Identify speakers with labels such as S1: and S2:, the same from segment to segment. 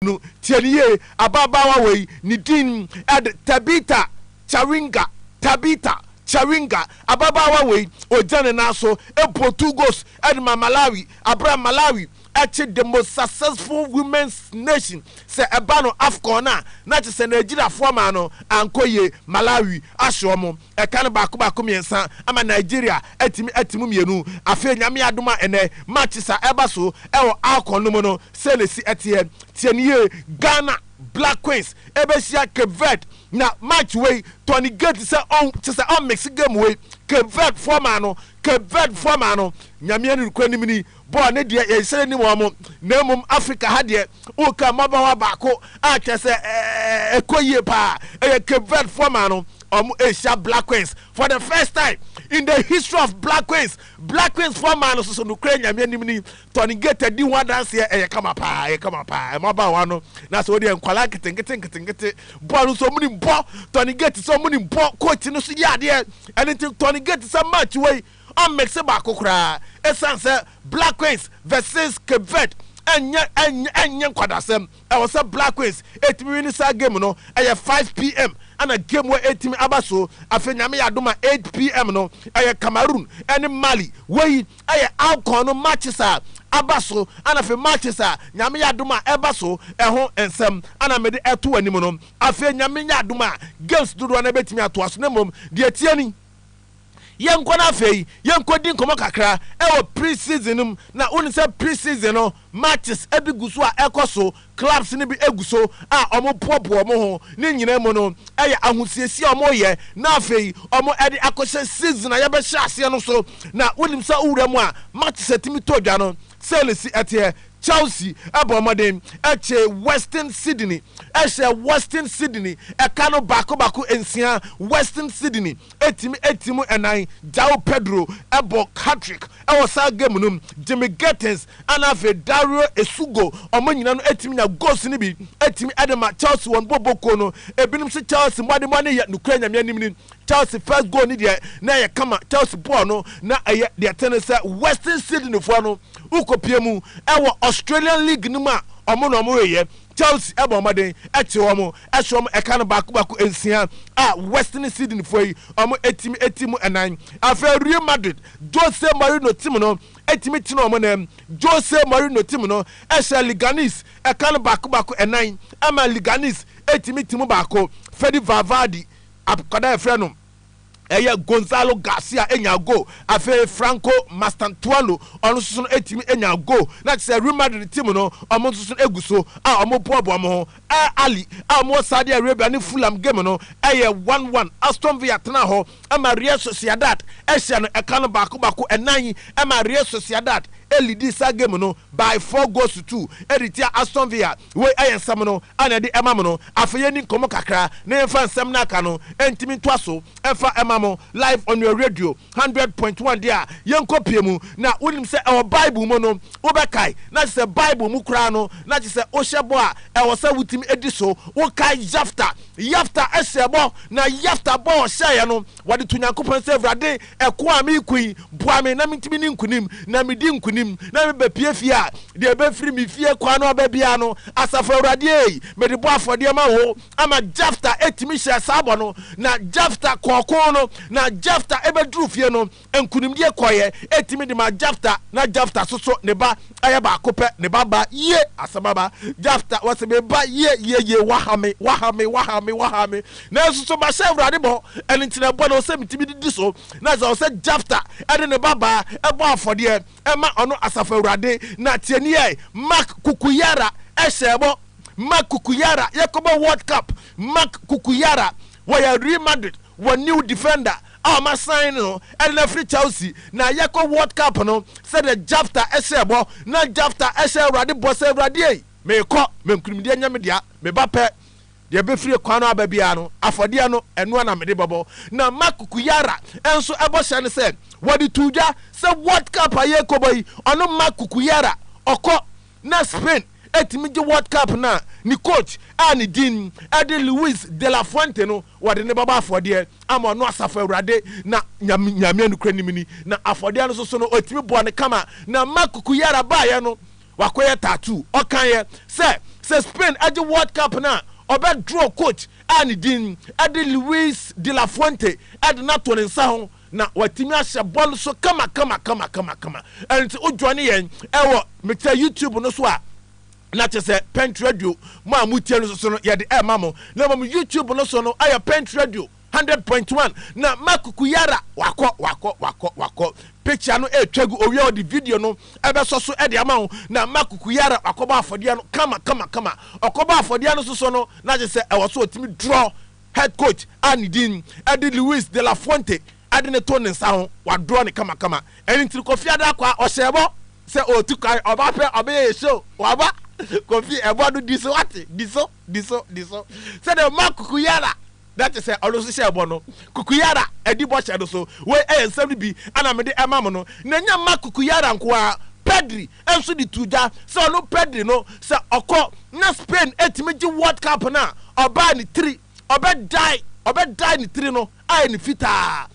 S1: no, tie no yie, ababaawa wei, ne din ɛde Tabitha Charinga, Tabitha Charinga, ababaawa wei, ɔgyina ne nan so, ɛbɔ two goals ɛde ma Malawi, aberɛ a Malawi ɛkye the most successful women's nation, sɛ ɛba no Afcon no a, na kyerɛ sɛ Nigeriafoɔ maa no ankɔ yie, Malawi ahye wɔn. Ɛka no baako baako mmiɛnsa ama Nigeria atumi ate mu mmienu. Afei Nyame adom a ɛnɛ matches a ɛreba so wɔ Afcon no mu no sɛn na ɛsi teɛ? Tie no yie, Ghana Black Queens ɛbɛhyia Cape Verde na match wei Tony Gate sɛ ɔn kyesɛ ɔn mix game wei Cape Verde foɔ maa no Cape Verde foɔ maa no Nyame ani nokorɛ nim ni Bɔɔl no deɛ yɛn srɛ nni wɔn na mmom Africa ha deɛ woka mmabaawa baako a kyerɛ sɛ ɛkɔ yie paa ɛyɛ Cape Verde foɔ maa no wɔn ɛhyia Black Queens for the first time in the history of Black Queens Black Queens foɔ maa no soso nokorɛ Nyame anim ni Tony Gate di ho adanseɛ ɛyɛ kama paa ɛyɛ kama paa mmabaawa no na sɛ wodeɛ nkwalaa nketenkete nketenkete bɔɔl no nso wɔn nim bɔ Tony Gate sɛ wɔn nim bɔ coach no so yɛ adeɛ ɛne nti Tony Gate sɛ match wei ɔmmekse baako koraa esiane sɛ Black Queens vs Cape Verde ɛnyɛ ɛnyɛ ɛnyɛ nkwadasɛm. Ɛwɔ sɛ Black Queens ɛtumi wini saa game no. Ɛyɛ 5PM ɛna game wei ɛtumi aba so. Afei Nyame yɛ adom a 8PM no ɛyɛ Cameroon ɛne Mali. Wei ɛyɛ AWCON no matches a aba so ɛna afei matches a Nyame yɛ adom a ɛba so ɛho nsɛm ɛna mede ɛto w'anim no. Afei Nyame yɛ adom a games dodoɔ no ɛbɛtumi atoa so na mmom deɛ ɛteɛ ni, Yɛnkɔ na afei yɛnkɔdi nkɔmmɔ kakra wɔ pre-season no mu. Na wonim sɛ pre-season no matches bi gu so a ɛkɔ so, clubs no bi gu so a wɔpoapoa wɔn ho. Ne nyinaa mu no, ɛyɛ ahosiesie a wɔreyɛ na afei wɔde akɔhyɛ season a yɛbɛhyɛ aseɛ no so. Na wonim sɛ wowura mu a matches tumi tɔ dwa no, Sɛlesi teɛ, Chelsea bɔɔ mmɔden kyee Western Sydney hyɛɛ Western Sydney ɛka no baako baako nsia, Western Sydney tumi ti mu nnan, Joao Pedro bɔ hat-trick wɔ saa game no mu, Jimmy Gethens ɛna afei Dario Esugo wɔn nyinaa no tumi nya goals no bi tumi de ma Chelsea wɔn boɔ bokuo no, ebinom se Chelsea mmɔdemmɔ no yɛ nokorɛ Nyame anim ni. Chelsea first goal ne deɛ na ɛyɛ kama Chelsea bɔɔl no na ɛyɛ deɛ ɛte ne sɛ Western Sydney foɔ no wokɔpie mu ɛwɔ Australian League no mu a ɔmo na ɔmo reyɛ Chelsea ɛbɔ ɔmɔden ɛkye wɔn ɛhyɛ wɔn ɛka no baako baako nsia a Western Sydney foɔ yi ɔmo ɛtumi ɛti mu ɛnan afei Real Madrid Jose Mourinho tim no ɛtumi tena ɔmo nan Jose Mourinho tim no ɛhyɛ Leganes ɛka no baako baako ɛnan ɛma Leganes ɛtumi ti mu baako Fede Valverde Akwadaa a yɛfrɛ no ɛyɛ Gonzalo Garcia nyaa goal. Afei Franco Mastantuano ɔno nso no tumi nyaa goal. Na kyerɛ sɛ Real Madrid team no wɔn nso so no egu so a wɔboaboa wɔn ho. Al Ahly a wɔwɔ Saudi Arabia ne Fulham game no ɛyɛ one one. Aston Villa tenaa hɔ ma Real Sociedad hyɛɛ no ɛka no baako baako. Ɛnna yi ma Real Sociedad leadi saa game no by four goals to two de tia Aston Villa. Wei ɛyɛ nsɛm no a na ɛde ɛma mo no. Afei yɛnni nkɔmmɔ kakra na yɛmfa nsɛm no a aka no ntumi ntoa so mfa ɛma mo live on your radio hundred point one deɛ a yɛnkɔpue mu. Na wonim sɛ ɛwɔ Bible mu no wobɛkae na kyesɛ Bible mu koraa no na kyesɛ wohyɛ bɔ a ɛwɔ sɛ wotumi di so. Wokae Yefta? Yefta hyɛɛ bɔ na Yefta bɔ a ɔhyɛeɛ no Wɔde to Nyankopɔn sɛ, Awurade, ɛko a mereko yi, boa me na mentumi nni nkonim, na medi nkonim, na mebɛpue fie a, deɛ ɛbɛfiri me fie kwan no aba biara no, Asafo Awurade ei, mede bɔ afɔdeɛ ma wo. Ama Jefta tumi hyɛɛ saa bɔ no, na Jefta kɔɔ ko no, na Jefta bɛduruu fie no, nkonimdie kɔeɛ tumi de maa Jefta, na Jefta soso ne ba yɛ baako pɛ, ne ba baa yie, asɛm aba, Jefta, wɔse, me ba yɛ yie yie, woaha me, woaha me, woaha me, woaha me. Nanso so masɛ Awurade bɔ? Ɛno nti na ɛbɔ na ɛwɔ sɛ metumi de di so, na sɛ ɛwɔ sɛ Jefta de ne babaa bɔ afɔdeɛ ma ɔno Asafo Awurade na tie nie, Marc Cucurella hyɛɛ bɔ, Marc Cucurella, yɛkɔbɔ World Cup, Marc Cucurella, wɔyɛ Real Madrid, wɔn new defender a wɔasan no de no afiri Chelsea, na yɛkɔ World Cup no sɛdeɛ Jefta hyɛɛ bɔ, na Jefta hyɛɛ Awurade bɔ sɛ, Awurade ei, merekɔ, m'ankunimdeɛ nyɛ me dea, me ba pɛ, Deɛ ɛbɛfiri ɛkwan no aba biara no, afɔdeɛ no, ɛno ara na mede bɛbɔ. Na Mark Cucuralla nso bɔhyɛ ne sɛ, wɔde too dwa sɛ World Cup a yɛrekɔbɔ yi, ɔno Mark Cucuralla, ɔkɔ na Spain tumi gye World Cup no a, ne coach a ne din de Luis de la Fuente no, wɔde no bɛbɔ afɔdeɛ ama ɔno Asafo Awurade. Na Nyame, Nyame a nokorɛ nim ni, na afɔdeɛ no nso so no, ɔtumi bɔɔ no kama. Na Mark Cucuralla baeɛ no, Wakɔyɛ tattoo. Ɔkaeɛ sɛ, sɛ Spain gye World Cup no a, ɔbɛdraw coach a ne din de Luis de la Fuente de no ato ne nsa ho na watumi ahyɛ bɔɔl so kamakamakama. Ɛnti wo joine yɛn wɔ mekyɛ YouTube no so a na kyɛ sɛ Pent Radio mo a motie no so no yɛde ɛma mo na mmom YouTube no so no ayɛ Pent Radio. Hundred point one na Mark Kuyara wakɔ wakɔ wakɔ wakɔ picture no ɛretwa gu owia ɔde video no ɛbɛsɔ so ɛde ama wo na Mark Kuyara wakɔbɔ afɔdeɛ no kama kama kama ɔkɔbɔ afɔdeɛ no soso no na gye sɛ ɛwɔ so ɔtumi draw head coach a ne din ɛde Luis de la Fuente ɛde ne to ne nsa ho wadraw ne kama kama ɛne ntiri Kofi Adakɔ a ɔhyɛ bɔ sɛ ɔtu kwan ɔba pɛ ɔbɛyɛ yɛ show waba Kofi ɛbɔ no di so wate di so di so, di so. Sɛdeɛ Mark Kukuyara, na te sɛ ɔno nso hyɛɛ bɔ no, Kukuyara, adi bɔhyɛ no so. Wei yɛ nsɛm no bi a na mede rema mo no. Na ɛnyɛ Mark Kukuyara nko ara, Pedri nso de too dwa sɛ ɔno, Pedri no, sɛ ɔkɔ na Spain tumi gye World Cup no a, ɔbaa ne tiri, ɔbɛdye, ɔbɛdye ne tiri no ayɛ no fitaa.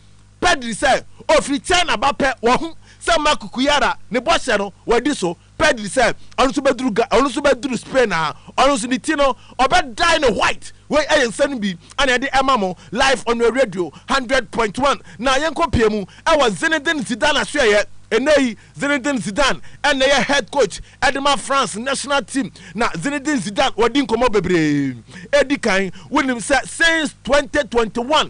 S1: Pedri sɛ ɔfiri China ba pɛ, wahu sɛ Mark Kukuyara, ne bɔhyɛ no, wadi so. Pedri sɛ ɔno nso bɛduru Ga ɔno nso bɛduru Spain a ɔno nso ne ti no ɔbɛdae no white wei ɛyɛ nsa no bi ɛna ɛde ɛma mo live on your radio hundred point one na yɛnkɔ pie mu ɛwɔ Zinedine Zidane asoɛyɛ ɛnɛ yi Zinedine Zidane ɛna ɛyɛ head coach ɛde ma France national team na Zinedine Zidane wɔde nkɔmmɔ bebree ɛdi kan wonim sɛ since twenty twenty one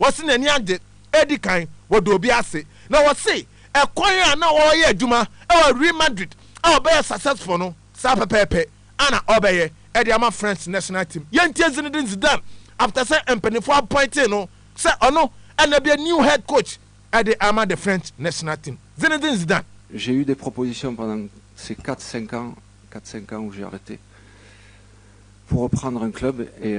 S1: wɔse n'ani agye redi kan wɔ dɔ bi ase, na wɔse ɛkwan a na ɔreyɛ adwuma wɔ Real Madrid a ɔbɛyɛ successful no, saa pɛpɛɛpɛ ara na ɔbɛyɛ de ama France national team. Yɛntie Zinedine Zidane after sɛ mpanyinfoɔ appointee no sɛ ɔno na bɛyɛ new head coach de ama the French national team. Zinedine Zidane. J'ai eu des propositions
S2: pendant ces quatre cinq ans, quatre cinq ans où j'ai arrete pour reprendre un club et.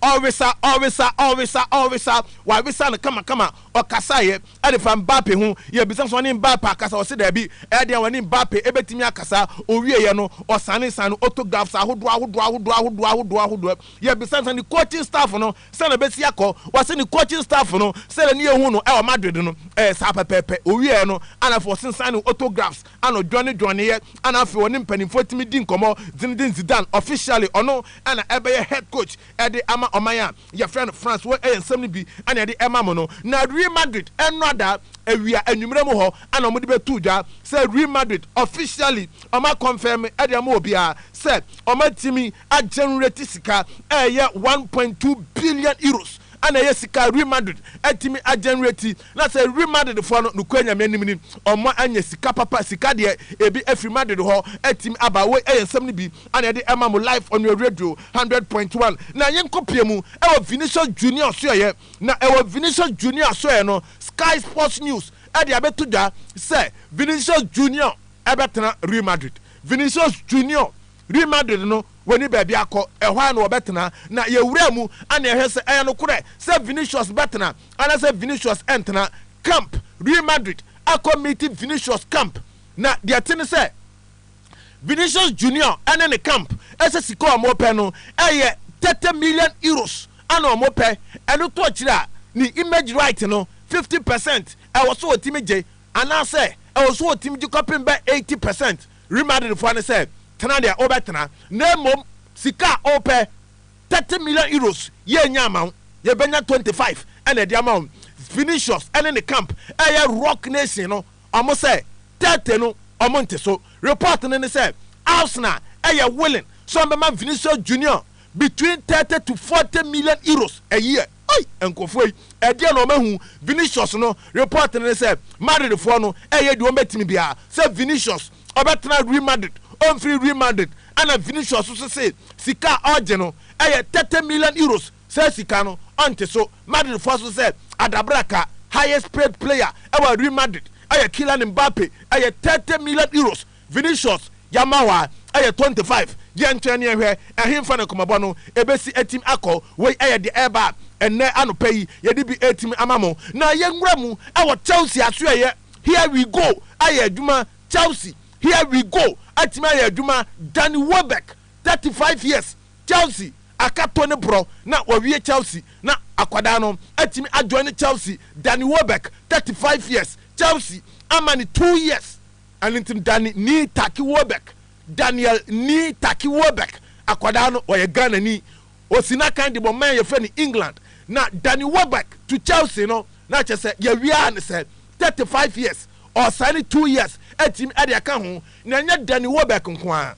S1: Ɔresa, ɔresa, ɔresa, ɔresa, wɔaresa no kamakama. Ɔkasaeɛ ɛde fa Mbappe ho. Yɛbisa sɛ ɔne Mbappe akasa, ɔse daabi. Ɛyɛ den a wɔne Mbappe ɛbɛtumi akasa. Ɔwieeɛ no, ɔsane sane no autographs ahodoɔ ahodoɔ ahodoɔ ahodoɔ ahodoɔ ahodoɔ. Yɛbisa no sɛ ne coaching staff no sɛn na ɛbɛsi akɔ. Ɔse ne coaching staff no sɛdeɛ ne yɛhu no ɛwɔ Madrid no ɛyɛ saa pɛpɛɛpɛ. Ɔwieeɛ no, ɛna afei ɔsensane no autographs ana ɔdwanedwaneeɛ, ana afei ɔne mpanimfoɔ tumi di nkɔmmɔ, Zinedine Zidane officially ɔno na ɛbɛyɛ head coach de ama ɔman a yɛfrɛ no France, wei yɛ nsɛm no bi na yɛde rema mo no, na Real Madrid nnɔda awia anwummerɛ mu hɔ ana wɔde bɛto dwa sɛ Real Madrid officially wɔn a confirm de ama obiara sɛ wɔn atumi a generate sika a ɛyɛ one point two billion euros ana ɛyɛ sika a Real Madrid atumi a generate Na sɛ wim adedefoɔ no, nokorɛ Nyame anim ni, wɔn anya sika papa, sika deɛ ebi afiri m'adede hɔ atumi aba, woi ɛyɛ nsɛm no bi a na yɛde rema mo live on your radio hundred point one, na yɛnkɔ pie mu ɛwɔ Vinicius Junior asoɛeɛ, na ɛwɔ Vinicius Junior asoɛeɛ no, Sky Sports News ɛde abɛto dwa sɛ Vinicius Junior ɛbɛtena Real Madrid, Vinicius Junior. Real Madrid no wɔnni baabi akɔ, ɛhɔ ara na wɔbɛtena, na yɛwuraa mu anee hwɛ sɛ ɛyɛ nokorɛ sɛ Vinicius bɛtena anaasɛ Vinicius rentena camp. Real Madrid akɔ miiti Vinicius camp, na deɛ ɛte ne sɛ, Vinicius Junior ne ne camp sɛ sika a wɔpɛ no, ɛyɛ thirty million euros na wɔpɛ, ɛno to akyire a, ne image right no, fifty percent ɛwɔ sɛ wɔtumi gye, anaasɛ ɛwɔ sɛ wɔtumi gye kɔpem bɛ eighty percent. Real Madrid foɔ ne sɛ tena deɛ wobɛtena na mmom sika a wopɛ thirty million euros yɛnnya ama wo yɛbɛnya twenty five na ɛde ama wo Vinicius ne ne camp ɛyɛ rock nation no wɔn sɛ thirty no wɔn nte so report no ne sɛ Arsenal ɛyɛ willing sɛ wɔn bɛma Vinicius Junior between thirty to forty million euros a year. Ei nkurɔfoɔ yi ɛdeɛn na wɔahu Vinicius no report no ne sɛ Madrid foɔ no ɛyɛ deɛ wɔbɛtumi biara sɛ Vinicius ɔbɛtena Real Madrid ɔmfiri Real Madrid ɛna Vinicius nso se sika a ɔregye no ɛyɛ thirty million euros saa sika no ɔnte so Madrid foɔ nso sɛ adabraka highest paid player ɛwɔ Real Madrid ɛyɛ Kylian Mbappe ɛyɛ thirty million euros Vinicius ya ma hɔ a ɛyɛ twenty five, yɛntwɛn ne yɛnhwɛ ɛhenfa na nkɔmɔbɔ no ɛbɛsi atim akɔ, wei ɛyɛ deɛ ɛreba a ɛnnɛ anɔpa yi yɛde bi ɛretumi ama mo. Na yɛnwura mu ɛwɔ Chelsea asoɛeɛ Here we go ayɛ adwuma Chelsea Here we go atumi ayɛ adwuma Danny Welbeck, thirty five years, Chelsea akato ne borɔ na wawie Chelsea na akwadaa no atumi ajoine Chelsea Danny Welbeck, thirty five years, Chelsea ama no two years, Ɛno nti Dani Nii Taki Wobek, Daniel Nii Taki Wobek, akwadaa no, ɔyɛ Ghanani. Ɔsi n'akan de bɔ man a yɛfrɛ no England. Na Dani Wobek to Chelsea no, na kyerɛ sɛ yɛawie ara ne sɛ, thirty five years, ɔresaene two years atumi de aka ho. Na ɛnyɛ Dani Wobek nko ara.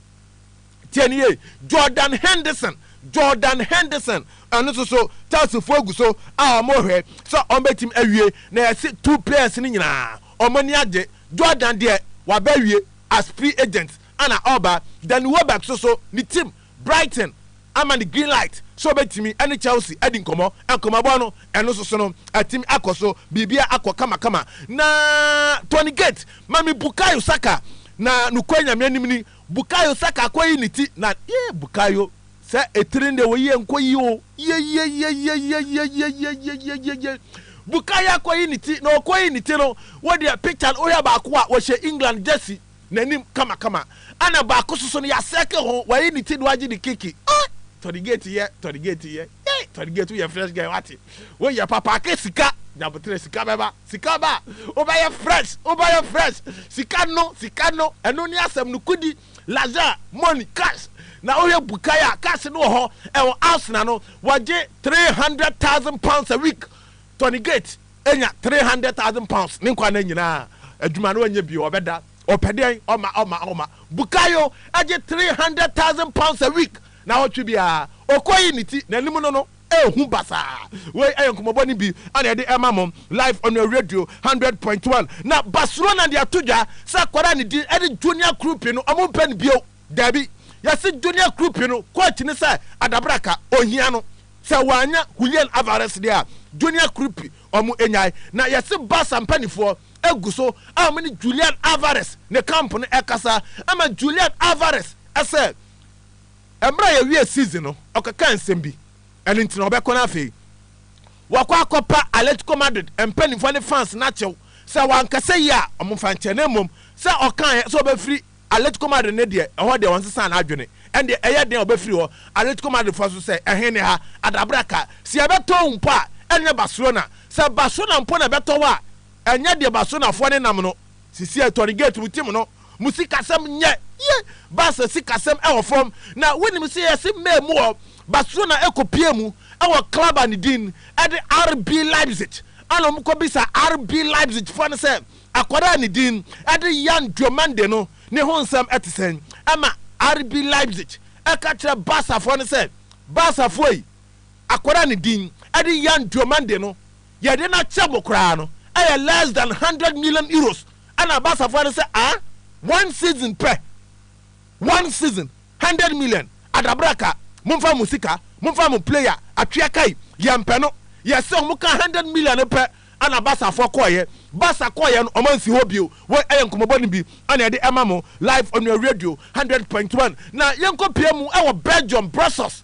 S1: Tie no yie, Jordan Henderson, Jordan Henderson, ɛno nso so Chelseafoɔ agu so a wɔrehwɛ sɛ wɔbɛtumi awie, na yɛse two players no nyinaa wɔn ani agye. Jordan deɛ wabɛwie as free agent ɛna ɔreba, Danny Welbeck nso so ne team Brighton ama no green light sɛ ɔbɛtumi ɛne Chelsea adi nkɔmmɔ, nkɔmmɔbɔ no ɛno nso so no atumi akɔ so, biribiara akɔ kama kama. Na Tony Gate, ma me Bukayo Saka, na nokorɛ Nyame anim ni, Bukayo saka akɔyi ne ti na yee Bukayo sɛ etiri deɛ wɔ yie nkɔyi o yeyeyeyeyeyeyeyeyeyeye Bukayo akɔyi ne ti na ɔkɔyi ne ti no wo deɛ picture no wohwɛ baako a wɔhyɛ England jersey n'anim kamakama ɛna baako soso no yasɛke ho wayi ne ti do agye de kiki ah Tony Gate yɛ Tony Gate yɛ yei Tony Gate woyɛ fresh guy wate woyɛ papa aka sika Nyaboterɛ sika bɛba. Sika ba a, wobɛyɛ fresh, wobɛyɛ fresh. Sika no, sika no, ɛno ne asɛm no. Kudi, l'argent, money, cash. Na wohwɛ Bukai a, cash no wɔ hɔ, ɛwɔ Arsenal no, wɔgye three hundred thousand pounds a week. Tony Gate anya three hundred thousand pounds ne nkwa nna nyinaa. Adwuma no ɔnyɛ bio, ɔbɛda. Ɔpɛ dɛn? Ɔma, ɔma, ɔma. Bukayo gye three hundred thousand pounds a week, naawɔtwe biara. Ɔkɔyi ne ti, n'anim no no. Ehu basaa. Wei ɛyɛ nkɔmɔbɔ no bi a na yɛde ɛma mo live on your radio hundred point one. Na Barcelona de ato dwa sɛ akwadaa a ne din ɛde Junior Krupi no ɔmo mpɛ no bio. Daabi, yɛse Junior Krupi no coach no sɛ adabraka, ohia no. Sɛ w'anya Julian Alvarez deɛ a, Junior Krupi ɔmo nyae. Na yɛse Barca mpaninfoɔ egu so a ɔmo ne Julian Alvarez ne camp no ɛkasa ɛma Julian Alvarez ɛsɛ Ɛberɛ a yɛwiee season no, ɔkɛkaa nsɛm bi, ɛno nti na ɔbɛkɔ na afei wakɔ akɔpa Atletico Madrid mpaninfoɔ ne fans no akyɛw sɛ wankasa yie a wɔmfa nkyɛ na mmom sɛ ɔkaaeɛ sɛ ɔbɛfiri Atletico Madrid no deɛ ɛhɔ deɛ wɔnsesaa n'adwene ɛndeɛ ɛyɛ den a ɔbɛfiri hɔ Atletico Madridfoɔ nso sɛ ɛhe ne ha adabraka sɛ yɛbɛtɔ wo mpo a ɛnyɛ Barcelona sɛ Barcelona mpo na ɛbɛtɔ wo a ɛnyɛ deɛ Barcelonafoɔ nenam no sisi ɛtɔ no gate mu team no Mo sikasɛm nyɛ ye. Baasa sikasɛm wɔ fam. Na wonim sɛ yɛse May mu wɔ Barcelona ɛkɔpie mu wɔ club a ne din de RB Leipzig. Ɛna wɔn kɔ bisa RB Leipzig foɔ no sɛ akwadaa a ne din de Yan Diomande no ne ho nsɛm te sɛn. Ɛma RB Leipzig ɛka kyerɛ Barca foɔ no sɛ Barca foɔ yi akwadaa a ne din de Yan Diomande no Yɛde no akyɛ mo koraa no ɛyɛ less than hundred million euros ɛna aba asafoa no sɛ ahh one season pɛ one season hundred million adabraka momfa mo sika momfa mo player atwea kai yɛmpɛ no yɛse ɔmo kaa hundred million no pɛ ɛna aba asafoa kɔɔyɛ basa kɔɔyɛ no ɔmo ansi hɔ bio wei ɛyɛ nkɔmɔbɔ no bi ɛna yɛde ɛma mo live onua radio hundred point one na yɛnkɔ pie mu ɛwɔ Belgium Brussels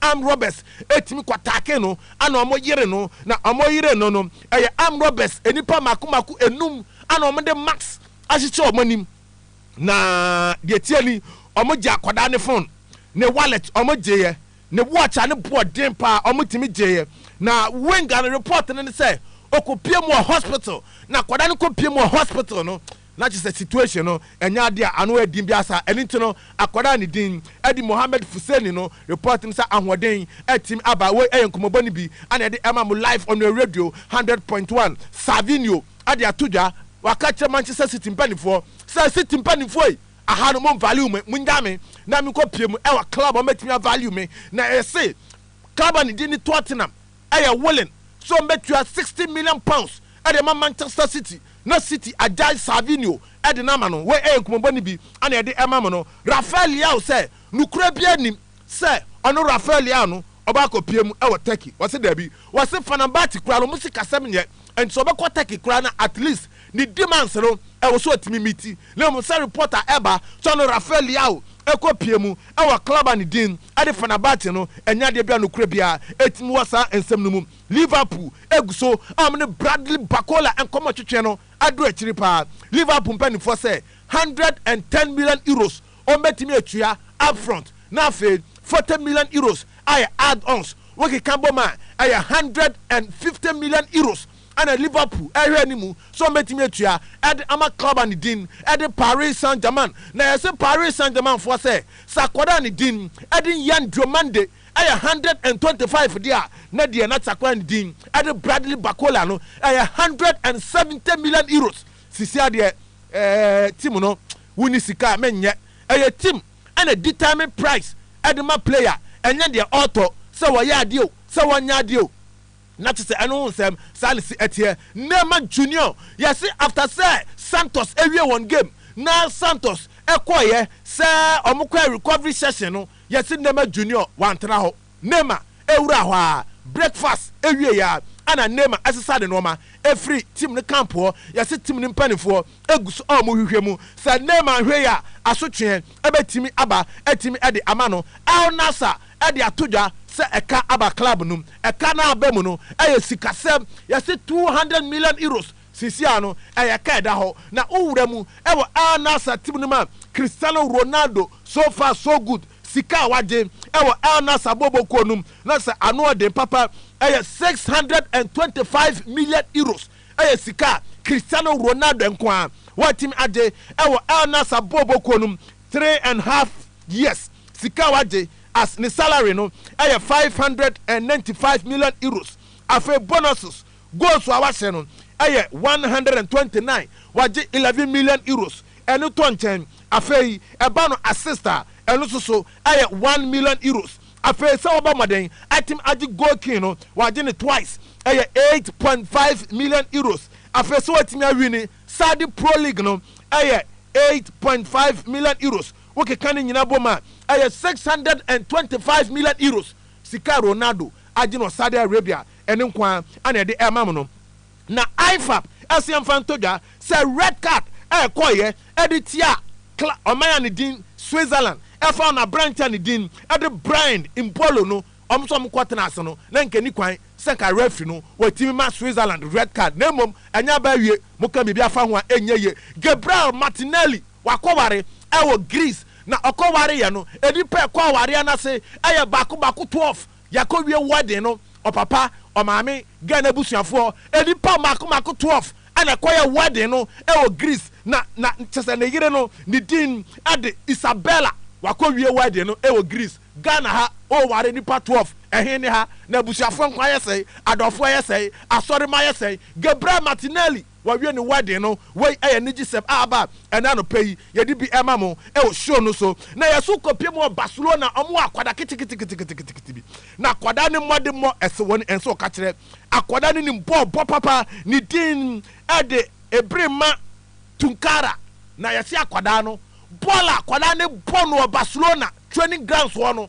S1: armed robbers tumi kɔ taake no ana ɔmo yere no na ɔmo yere no no ɛyɛ armed robbers nnipa mako mako enum ana ɔmo de mask ahyehyɛ ɔmo anim na deɛ ɛteɛ ni ɔmo gye akwadaa ne fon ne wallet ɔmo gyeeɛ ne watch a ne boɔ den paa ɔmo tumi gyeeɛ na Wing ano report no ne sɛ ɔkɔ pie mu wɔ hospital na akwadaa no kɔ pie mu wɔ hospital no Na kyerɛ sɛ situation no ɛnyɛ ade a ano yɛ den biara saa. Ɛno nti no, akwadaa a ne din de Mohammed Fuseni no report me sɛ ahoɔden atumi aba. Wei yɛ nkɔmmɔbɔ no bi a na yɛde rema mo live on your radio one hundred point one. Savinho de ato dwa. Waka akyerɛ Manchester City mpanimfoɔ sɛ, City mpanimfoɔ yi, aha no monvalue me, monnyaa me na menkɔpue mu wɔ club a wɔatumi avalue me. Na yɛse club a ne din ne Tottenham. yɛ willing sɛ ɔmɛtua sixty million pounds de ama Manchester City na City agyae Savinho de no ama no, wei yɛ nkumabɔ no bi na yɛde rema mo no, Rafael Leao sɛ nokorɛ biara nnim sɛ ɔno Rafael Leao no ɔbɛ akɔ pie mu wɔ Turkey, wɔse daabi, wɔse Fenerbahce koraa no wɔn sikasɛm nyɛ nti sɛ ɔbɛkɔ Turkey koraa no at least ne demands no ɛwɔ sɛ ɔtumi meeti, na mmom sɛ report a ɛba sɛ ɔno Rafael Leao kɔ pie mu wɔ club a ne din Ɛdefa n'abaate no, ɛnyɛ adeɛ bi a nokorɛ biara tumi wɔ saa nsɛm no mu. Liverpool gu so a wɔne Bradley Barcola nkɔmmɔ twetweɛ no aduru akyiri paa. Liverpool mpanimfoɔ sɛ hundred and ten million euros wɔn bɛtumi atua up front na afei forty million euros ayɛ add-ons wokeka bom a ɛyɛ hundred and fifty million euros. na Liverpool rehwɛ anim sɛ wɔbɛtumi atua de ama club a ne din de Paris Saint-Germain, na yɛse Paris Saint-Germain foɔ sɛ, sɛ akwadaa a ne din de N'Yan Diomande yɛ hundred and twenty five deɛ a, na deɛ na akwadaa a ne din de Bradley Barcola no yɛ hundred and seventy million euros. Sisi adeɛ eh, team no wonni sika a menyɛ, ɛyɛ team na determine price de ma player, ɛnyɛ deɛ ɔretɔ sɛ wɔyɛ adeɛ o, sɛ wɔnyɛ adeɛ o. Na kyesɛ ɛno ho nsɛm saa ne se ɛteɛ nnɛ ma Junior. Yɛse after sɛ Santos awie wɔn game na Santos kɔeɛ sɛ wɔn kɔɛ recovery session no, yɛse nnɛ ma Junior wantena hɔ. Neymar ɛwuraa hɔ aa, breakfast ɛwieɛ aa ɛna Neymar ɛsesa ne nnoɔma ɛfiri team no camp hɔ. Yɛse team no mpaninfoɔ ɛguso a wɔhwehwɛ mu sɛ Neymar nhwɛi a asotweɛ. ɛbɛtumi aba atumi de ama no. Al Nassr de ato dwa sɛ ɛka aba club no mu. Ɛka no a aba mu no yɛ sikasɛm. Yɛse two hundred million euros seesei no ɛyɛ ka ɛda hɔ. Na wo wura mu wɔ Al Nassr team no mu a, Cristiano Ronaldo, so far so good. Sika a wagye wɔ Al Nassr bɔɔlbɔ kuo no mu no sɛ ano ɔden papa ɛyɛ six hundred and twenty five million euros. ɛyɛ sika a Cristiano Ronaldo nko ara watumi agye wɔ Al Nassr bɔɔlbɔ kuo no mu three and half years. Sika a wagye as ne salary no yɛ five hundred and ninety five million euros. Afei bonuses, goals a wahyɛ no yɛ one hundred and twenty nine, wagye eleven million euros, ɛno tɔ nkyɛn. Afei ɛba no assist a, ɛno nso so yɛ one million euros. Afei sɛ wɔbɔ mmɔden atim agye goal king no, wɔagye no twice, ɛyɛ eight point five million euros. Afei sɛ wɔatumi awini Saudi Pro League no, ɛyɛ eight point five million euros. Wokeka ne nyinaa bom a, ɛyɛ six hundred and twenty five million euros. Sika a Ronaldo agye no wɔ Saudi Arabia, ɛno nko ara na ɛde rema mo no. Na IFAB se yɛmfa nto dwa sɛ red card a ɛkɔeɛ de tiaa Kla ɔman a ne din Switzerland fa ho na aberante a ne din de Brian Mbolo no wɔn nso wɔn kɔ tenaa ase no na nka ɛni kwan sɛ nka referee no watumi ma Switzerland red card na mmom ɛnyɛ aba awie mo ka biribi afa ho a ɛnyɛ yie. Gabriel Martinelli wakɔware wɔ Greece na ɔkɔwareeɛ no nnipa a ɛkɔ awareɛ no ase yɛ baako baako 12. Yɛakɔwie wedding no, ɔpapa, ɔmaame, Ghana abusuafoɔ, nnipa mmaako mmaako twelve na ɛkɔyɛɛ wedding no wɔ Greece. Na, na kyerɛ sɛ ne yere no, ne din de Isabella. Wɔakɔwie wedding no wɔ Greece. Ghana ha, woware nnipa twelve, ɛhe ne ha? Na abusuafoɔ nko ayɛ sɛn, adɔfoɔ ayɛ sɛn, asɔremma ayɛ sɛn. Gabriel Martinelli. Wɔawie ne wedding no. Wei yɛ anigyesɛm a aba ɛnnɛ anɔpa yi. Yɛde bi rema mo wɔ show no so. Na yɛn nso kɔpie mu wɔ Barcelona. Wɔwɔ akwadaa ketekete bi. Na akwadaa no mmɔdemmɔ ɛse wɔn ɛnsɛ wɔka kyerɛ. Akwadaa no nim bɔɔl bɔ papa. Ne din de Ebrima Tunkara. Na yɛse akwadaa no, bɔɔl a akwadaa no bɔ no wɔ Barcelona training grounds hɔ no,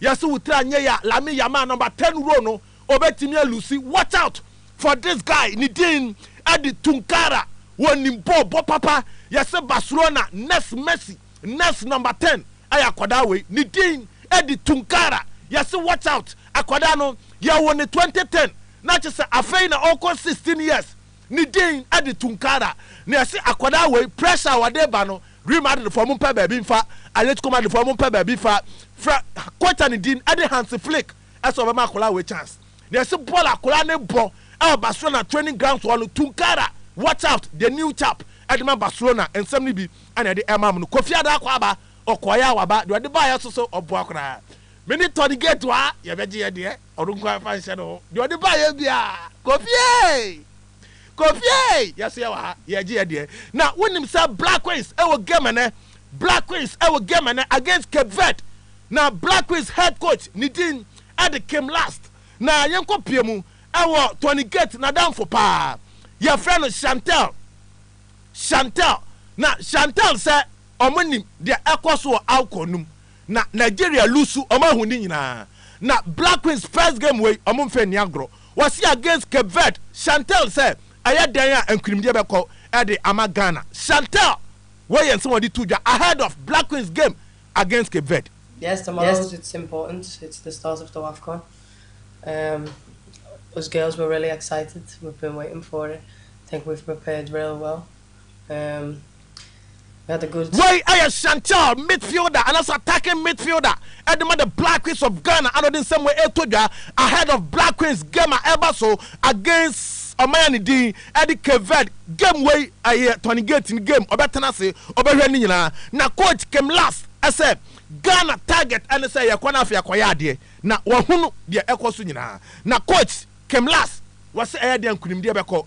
S1: yɛse wo tiri anyɛ yɛ a, Lamine Yamal number ten role no, Obetumi a loose watch out for this guy ne din ɛde Tunkara wɔnim bɔɔ bɔ papa yɛse Barcelona next Messi next number ten ɛyɛ akwadaa wei ne din ɛde Tunkara yɛse watch out akwadaa no yɛwo no twenty ten na kyesɛ afei na ɔkɔ sixteen years ne din ɛde Tunkara na yɛse akwadaa wei pressure wɔde ba no Real Madrid foɔ mo mpɛ baabi nfa Atletico Madrid foɔ mo mpɛ baabi fa fra coach ne din ɛde Hansi Flick sɛ ɔbɛma akwadaa wei chance. Na yɛsi bɔɔl akwadaa no bɔ ɛwɔ Barcelona training grounds hɔ no, Tunkara, watch out, the new chap ɛde ma Barcelona, nsɛm no bi ɛna ɛde ɛma mo no. Kofi Adaa kɔ aba, ɔkɔɔeɛ a waba, deɛ ɔde baeɛ nso so ɔboa koraa. Me ne Tony Gate a yɛbɛgye yɛn deɛ, ɔno nko ara mfa nhyɛ ne ho, deɛ ɔde baeɛ biara, Kofi ee! Kofi ei! Yɛ so yɛ wɔ ha, yɛ gye yɛ deɛ. Na wo nim sɛ Black Queens ɛwɔ game ɛnɛ, Black Queens ɛwɔ game ɛnɛ against Cape Verde. Na Black Queens head coach ne din ɛde Kim Last. Na yɛn kɔ pie mu ɛwɔ Tony Gate n'adamfo paa, yɛ frɛ no Chantel, Chantel. Na Chantel sɛ ɔmo nim deɛ ɛkɔ so wɔ Awkɔ no mu. Na Nigeria lusu ɔmo ahoni nyinaa. Na Black Queens first game wei ɔmo nfɛ nni agorɔ. Wɔse against Cape Verde, Chantel sɛ ɛyɛ dɛn a nkunimdie bɛkɔ de ama Ghana. Chantel! Wei yɛ nsɛm a ɔde to dwa ahead of Black Queens game against Cape Verde. Yes the model was it's
S3: important it's the start of the wafcon um us girls were really excited we've been waiting for it think we've prepared real well. Wei ɛyɛ Chantal,
S1: midfielder anaasɛ attacking midfielder ɛde ma the Black Queens of Ghana a na ɔde nsɛm wei ɛretɔ dwa ahead of Black Queens game a ɛreba so against ɔman a ne din ɛde Cape Verde. Game wei ɛyɛ Tony Gate ne game, ɔbɛtena ase ɔbɛhwɛ ne nyinaa na coach Kim Lass ɛsɛ Ghana target ɛne sɛ yɛkɔ na afei akɔyɛ adeɛ na wɔahunu deɛ ɛkɔ so nyinaa na coach Kim Lass wɔse ɛyɛ deɛ nkunimdie bɛkɔ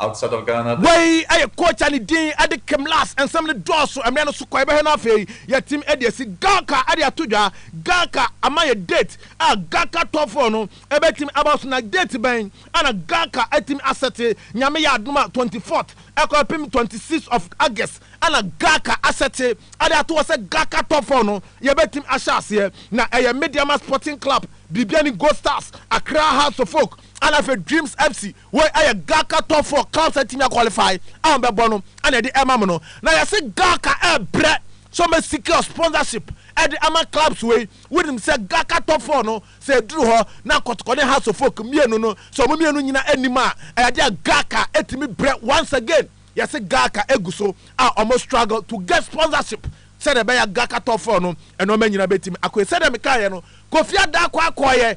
S4: outside of Ghana the. Wei yɛ coach a
S1: ne din de Kim Lass, nsɛm no dɔɔso mmrɛ no so kɔ yɛbɛhwɛ no afei, yɛatim de asi Gaka de ato dwa, Gaka ama yɛ date a Gaka top four no ɛbɛtim aba so na date bɛn a na Gaka atimi asɛte, Nyame yɛ adom a twenty fourth ɛkɔpem twenty sixth of August na Gaka asɛte de ato hɔ sɛ Gaka top four no yɛbɛtim ahyɛ aseɛ na ɛyɛ Medeama Sporting Club, Biribiani Gold Stars, Accra Hearts of Oak ɛna afei Dreams FC. Wei ɛyɛ Gaka top four clubs atumi a qualify a wɔn bɛbɔ no ɛna ɛde ɛma mo no. Na yɛse Gaka ɛbrɛ sɛ wɔn bɛ secure sponsorship ɛde ama clubs wei. Wonim sɛ Gaka top four no sɛ ɛduru hɔ na Kɔtɔkɔ ne Hearts of Oak mmienu no sɛ wɔn mmienu nyina ɛnim a ɛyɛ adeɛ a Gaka ɛtumi brɛ once again. Yɛse Gaka ɛguso a wɔn struggle to get sponsorship sɛdeɛ ɛbɛyɛ a Gaka top four no nnoɔma nyina bɛtumi akɔ yie. Sɛdeɛ mekaaeɛ no Kofi Adaa kɔ akɔɔyɛ